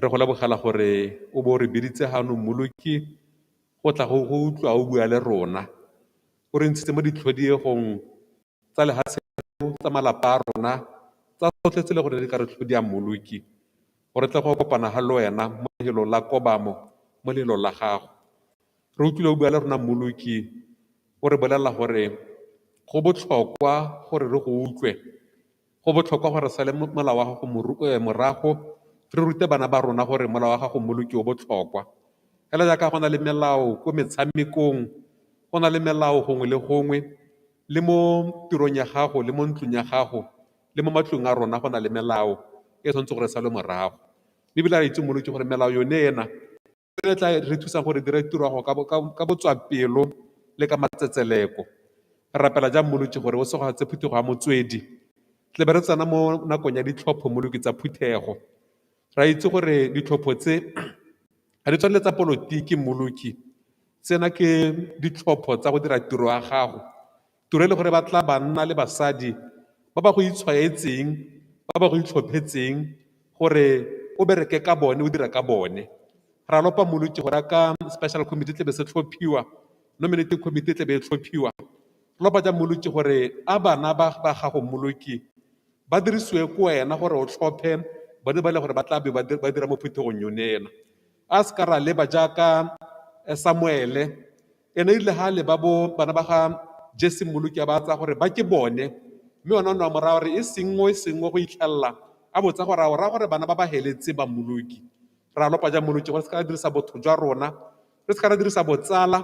Re go lebogela gore o bo re biditse gano mmoloki go tla go go utlwa o bua le rona. O re ntshitse mo ditlhodiegong tsa lehatshe tsa malapa a rona tsa tsotlhe tse le gore di ka re tlhodia mmoloki. O re tle go kopana ga le wena mo lehelong la kobamo mo lehelong la gago. Re utlwile o bua le rona mmoloki o re bolelela gore go botlhokwa gore re go utlwe Go botlhokwa gore re sale molao wa gago morago, re rute bana ba rona gore molao wa gago molo ke o botlhokwa. Fela jaaka go na le melao ko metshamekong, go na le melao gongwe le gongwe, le mo tirong ya gago, le mo ntlong ya gago, le mo matlong a rona go na le melao e tshwanetse gore e salwe morago. Ebile re a itse moloki gore melao yone ena. le tla re thusa gore dire tiro ya go ka botswapelo le ka matsetseleko. Re rapela jang Molotši gore o segofatse phuthego ya motswedi? Tle be re tsena mo nakong ya ditlhopho Moloki tsa phuthego. Re a itse gore ditlhopho tse ga di tshwane le tsa polotiki Moloki, tsena ke ditlhopho tsa go dira tiro ya gago. tiro e le gore ba tla banna le basadi ba ba go itshwaetseng ba ba go itlhophetseng gore o bereke ka bone o dira ka bone ra lopa moloki gore a ka special committee tlebe se tlhophiwa nominating committee tlebe e tlhophiwa lopa ja moloki gore a bana ba ba gago moloki ba dirisiwe ko wena gore o tlhophe bone ba le gore ba tla be ba dira mo phuthegong yone ena a se ka ra leba jaaka samuele ene e rile ga le ba bo bana ba ga jese mmoloki a ba tsaya gore ba ke bone mme ona o ne wa mo raya gore e sengwe e sengwe go itlhelela a botsa gore a o raya gore bana ba ba heletse ba mmoloki ra lopa ja mmoloki gore se ka ra dirisa botho jwa rona re se ka ra dirisa botsala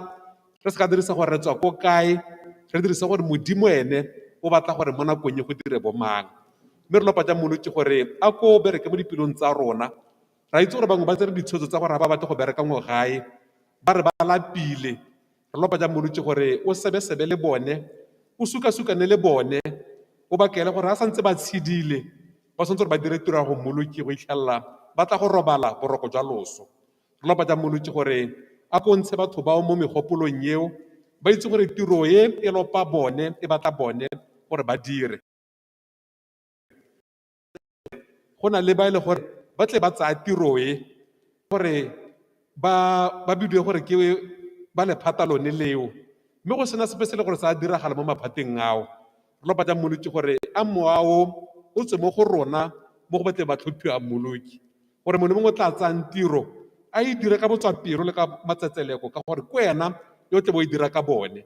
re se ka dirisa gore re tswa ko kae re dirisa gore modimo ene o batla gore mo nakong e go dire bomang mme re lopa ja mmoloki gore a ko bereke mo dipelong tsa rona Re a itse gore bangwe ba tsere ditshwetso tsa gore ga ba batle go bereka ngo gae, ba re ba lapile. Re lopa jang molwetse gore o sebesebe le bone, o sukasukane le bone, o ba kaele gore ga sa ntse ba tshedile, ba tshwanetse gore ba dire tiro ya go mmoloki go itlhelela ba tla go robala boroko jwa loso. Re lopa jang molwetse gore a ko ntshe batho bao mo megopolong eo, ba itse gore tiro e e lopa bone, e batla bone gore ba dire. go na le ba e le gore ba tle ba tsaya tiro e gore ba ba bidiwe gore ke ba lephata lone leo mme go sena sepe se le gore sa diragala mo maphateng ao re lo batla mmoloki gore a moao o tswe mo go rona mo go batleng ba tlhophiwa mmoloki gore mongwe le mongwe o tla tsayang tiro a e dire ka botswapelo le ka matsetseleko ka gore ke wena yo o tle bo e dira ka bone